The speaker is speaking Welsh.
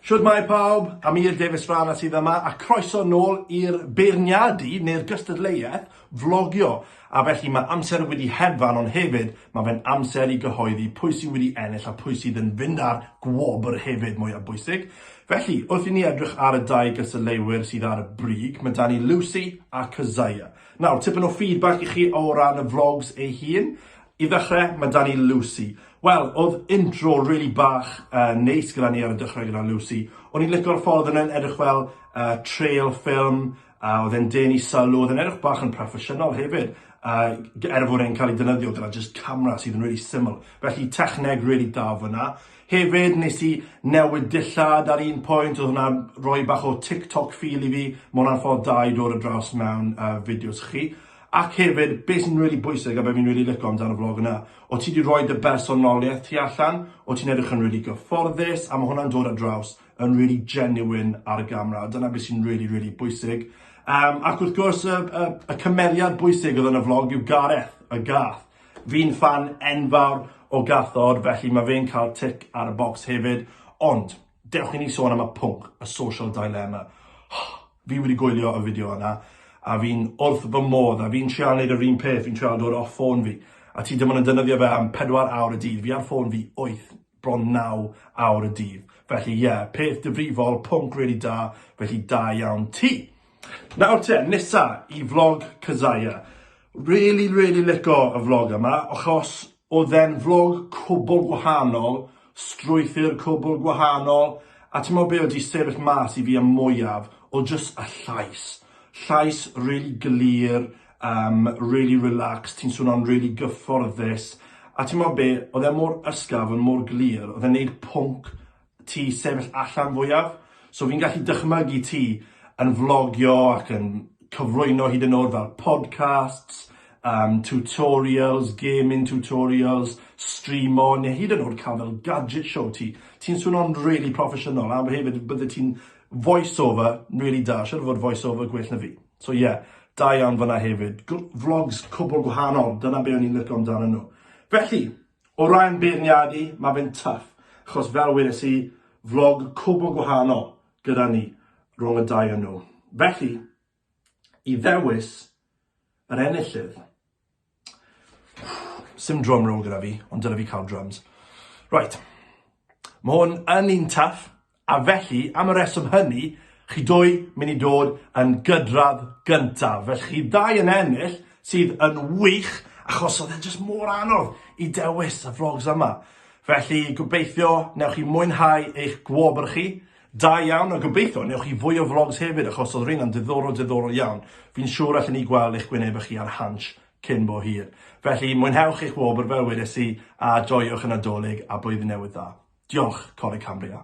Shwmae pawb, Amir Davies Farah sydd yma a croeso nôl i'r beirniadu neu'r gystadleuaeth flogio. A felly mae amser wedi hedfan ond hefyd mae fe'n amser i gyhoeddi pwy sy'n wedi ennill a pwy sydd yn fynd â'r gwobr hefyd, mwyaf bwysig. Felly, wrth i ni edrych ar y dau gystadleuwyr sydd ar y brig, mae 'da ni Lucy a Keziah. Nawr, tipyn o feedback i chi o ran y vlogs ei hun. I ddechrau, mae 'da ni Lucy. Wel, oedd intro rili bach yn neis gyda ni ar y dechrau gyda Lucy. O'n i'n licio'r ffordd oedd e'n edrych fel trail ffilm, a oedd e'n denu sylw, oedd e'n edrych bach yn proffesiynol hefyd, er fod e'n cael ei defnyddio gyda jyst camera sydd yn rili syml. Felly, techneg rili da fan'na. Hefyd nes i newid dillad ar un pwynt, oedd hwnna'n rhoi bach o TikTok feel i fi, ma' hwnna'n ffordd da i dod ar draws mewn uh, fideos chi. Ac hefyd, beth sy'n really bwysig a beth fi'n really licio amdano vlog yna, o ti wedi rhoi dy bersonoliaeth ti allan, o ti'n edrych yn really gyfforddus, a mae hwnna'n dod ar draws yn really genuine ar y gamera, a dyna beth sy'n really, really bwysig. Um, ac wrth gwrs, y, y, y cymeriad bwysig oedd yn y vlog yw Gareth, y gath. Fi'n ffan enfawr o gathod felly mae fe'n cael tic ar y bocs hefyd, ond dewch i ni sôn am y pwnc, y social dilemma. Fi wedi gwylio y fideo yna a fi'n wrth fy modd a fi'n trial neud yr un peth, fi'n trial dod off ffôn fi a ti dim ond yn defnyddio fe am pedwar awr y dydd, fi ar ffôn fi wyth bron naw awr y dydd. Felly ie, peth difrifol, pwnc rili da, felly da iawn ti. Nawr te, nesa i vlog Kazaya. Rili, rili lico y vlog yma, achos oedd e'n vlog cwbl gwahanol, strwythur cwbl gwahanol, a ti'n mo be oedd di sefyll mas i fi am mwyaf o jyst y llais. Llais rili glir, um, really relaxed, ti'n swnio'n really gyfforddus, a ti'n meddwl be, oedd e mor ysgaf, yn mor glir, oedd e'n neud pwnc ti sefyll allan fwyaf, so fi'n gallu dychmygu ti yn vlogio ac yn cyflwyno hyd yn oed fel podcasts, um, tutorials, gaming tutorials, streamo, neu hyd yn oed cael fel gadget show ti. Ti'n swnio'n really proffesiynol, a hefyd bydde ti'n voiceover really da, siarad fod voiceover gwell na fi. So ie, da iawn fyna hefyd. Gw vlogs cwbl gwahanol, dyna be o'n i'n licio amdanyn nhw. Felly, o ran beirniadu, mae fe'n tuff, achos fel weles i, vlog cwbl gwahanol gyda ni, rhwng y dau o nhw. Felly, i ddewis yr enillydd, Sim drum roll gyda fi, ond dyle fi cael drums. Right. Mae hwn yn un taff, a felly, am y reswm hynny, chi dwy mynd i dod yn gydradd gyntaf. Felly chi ddau yn ennill sydd yn wych achos oedd e'n just mor anodd i dewis y vlogs yma. Felly gobeithio newch chi mwynhau eich gwobr chi Da iawn a gobeithio wnewch chi fwy o vlogs hefyd achos oedd rheina'n diddorol diddorol iawn. Fi'n siŵr allen ni gweld eich gwynebau chi ar Hansh cyn bo hir. Felly, mwynhewch eich wobr fel wedes i a joiwch y Nadolig a Blwyddyn Newydd Dda. Diolch, Coleg Cambria.